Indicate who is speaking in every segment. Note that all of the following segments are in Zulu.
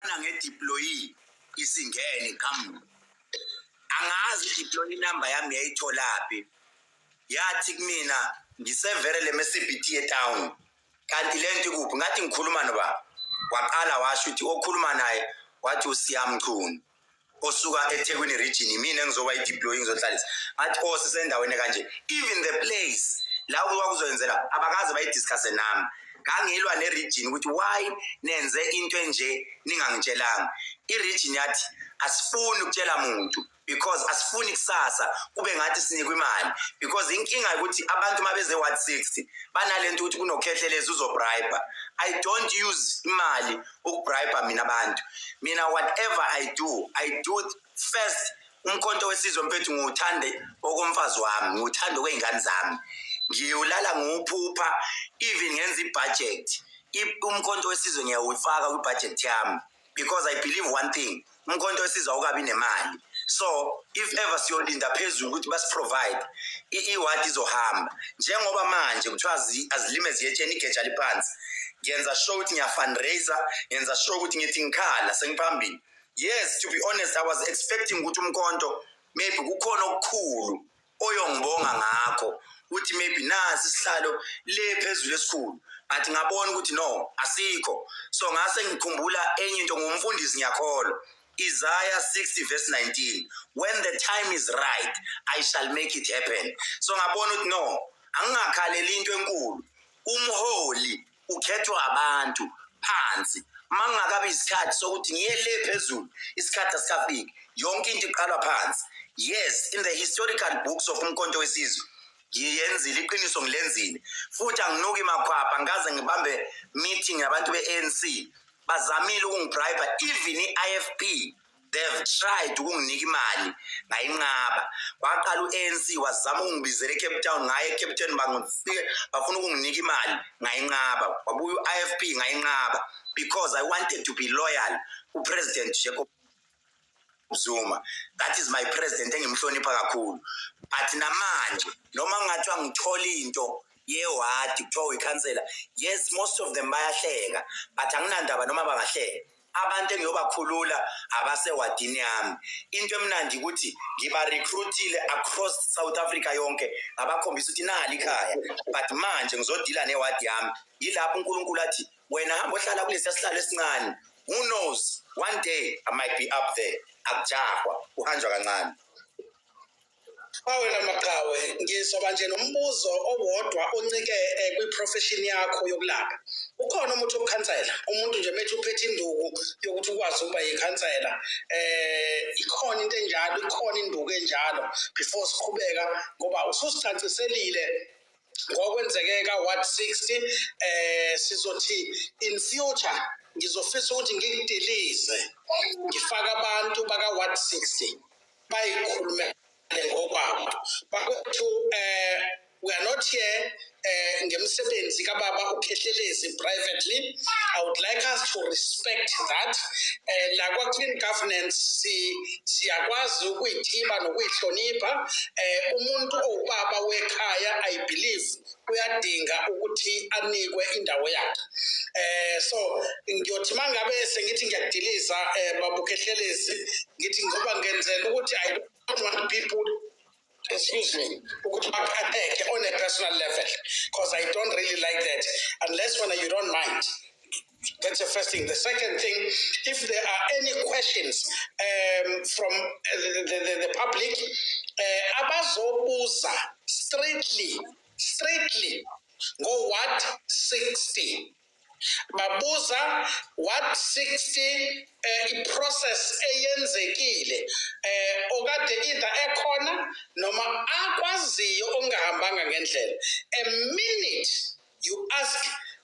Speaker 1: na nge deployee isingene kam angazi deploy number yami yayitholaphi yathi kumina ngisevere le mcbt ye town kanti le nto ikuphi ngathi ngikhuluma noba waqala washo ukuthi okhuluma naye wathi usiyamchunu osuka ethekwini region yimina engizoba i-deploy ngizohlalisa ngathi o oh, sisendaweni kanje even the place la ukuba kuzoyenzela abakaze bayidiscusse nami ngangilwa ne-region ukuthi why nenze into enje ningangitshelanga i-region yathi asifuni ukutshela muntu because asifuni kusasa kube ngathi sinikwa imali because inkinga ukuthi abantu uma beze 160 banale nto ukuthi kunokhethelezi uzobribe i don't use imali ukubribe mina abantu mina whatever i do i do first umkhonto wesizwe mfethu ngiwuthande okomfazi wami ngiwuthande okwey'ngane zami ngiwulala ngiwuphupha even ngenza ibhajethi umkhonto wesizwe ngiyawuyifaka kwibhajethi yami because i believe one thing umkhonto wesizwa ukabi nemali so if ever siyolinda phezulu ukuthi basiprovide i-ward izohamba njengoba manje kuthiwa azilime ziyetsheni igeja liphansi ngiyenza sure ukuthi ngiyafundraiser ngiyenza sure ukuthi ngithi ngikhala sengiphambili yes to be honest i was expecting ukuthi umkhonto maybe kukhona okukhulu oyongibonga ngakho ukuthi maybe nasi isihlalo le phezulu esikhulu but ngabona ukuthi no asikho so ngase ngikhumbula enye into ngumfundisi ngiyakholwa Isaiah 60 verse 19 when the time is right I shall make it happen so ngabona ukuthi no angingakhaleli into enkulu umholi ukhethwa abantu phansi mangakabi isikhathi sokuthi ngiye le phezulu isikhathi asikafiki yonke into iqalwa phansi yes in the historical books of umkhonto wesizwe ngiyenzile iqiniso ngilenzile futhi anginuki makhwapha ngikaze ngibambe meeting yabantu be-anc bazamile ukungibribe even i-ifp they've tried ukunginika imali ngayinqaba kwaqala u-anc wazama ukungibizela ecape town ngaye ecape town bangifike bafuna ukunginika imali ngayinqaba wabuya u-i f p ngayinqaba because i wanted to be loyal kupresident jacob zuma that is my president engimhlonipha kakhulu but namanje noma kungathiwa ngithola into yewadi kuthiwa uyikhansela yes most of them bayahleka but anginandaba noma bangahleka abantu engiyobakhulula abasewadini yami into emnandi ukuthi ngiba-recruitile across south africa yonke ngabakhombisa ukuthi nali ikhaya but manje ngizodila newadi yami yilapho unkulunkulu athi wena hamba ohlala kulesiya sihlalo esincane who knows one day i might be up there akujahwa kuhanjwa kancane Awela
Speaker 2: maqhawe ngizoba nje nombuzo owodwa oncike eh, kwi-profession yakho yokulapha ukhona umuthi wokukhansela umuntu nje methi uphethe induku yokuthi ukwazi ukuba yikhansela eh ikhona into enjalo ikhona induku enjalo before siqhubeka ngoba ususicaciselile ngokwenzeke ka-ward 60 eh sizothi in future ngizofisa ukuthi ngikudilize ngifake abantu baka-ward 60 bayikhulumele ngokwabo bakwethu um eh, we are not here uh, ngemsebenzi kababa ukhehlelezi privately i would like us to respect that uh, eh, la kwa-clean governance siyakwazi si ukuyithiba nokuyihlonipha um uh, umuntu owubaba wekhaya i believe uyadinga ukuthi anikwe indawo yakhe eh so ngiyothi mangabe sengithi ngiyadiliza eh babukhehlelezi ngithi ngoba ngenzela ukuthi i don't want people excuse me ukuthi baqatheke on a personal level because i don't really like that unless when you don't mind That's the first thing. The second thing, if there are any questions um, from uh, the, the, the, the public, uh, abazobuza straightly, straightly, go what 60. babuza what 60 eh, iprocess eyenzekile eh okade either ekhona noma akwaziyo ongahambanga ngendlela a minute you ask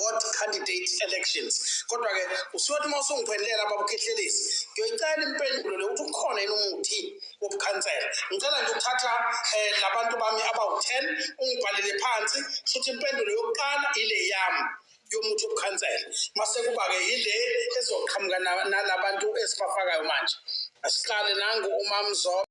Speaker 2: ward candidate elections kodwa-ke usuyothi uma usungiphendelela babukhehlelezi ngiyoyicela impendulo le ukuthi ukhona yini umuthi wobukhansela ngicela nje ukuthatha um eh, labantu bami abawu-ten ungibhalele phansi shuthi impendulo yokuqala ile yami yomuthi wobukhansela mase kuba-ke yile ezoqhamuka nalabantu esibafakayo manje asiqale nangu umamzobe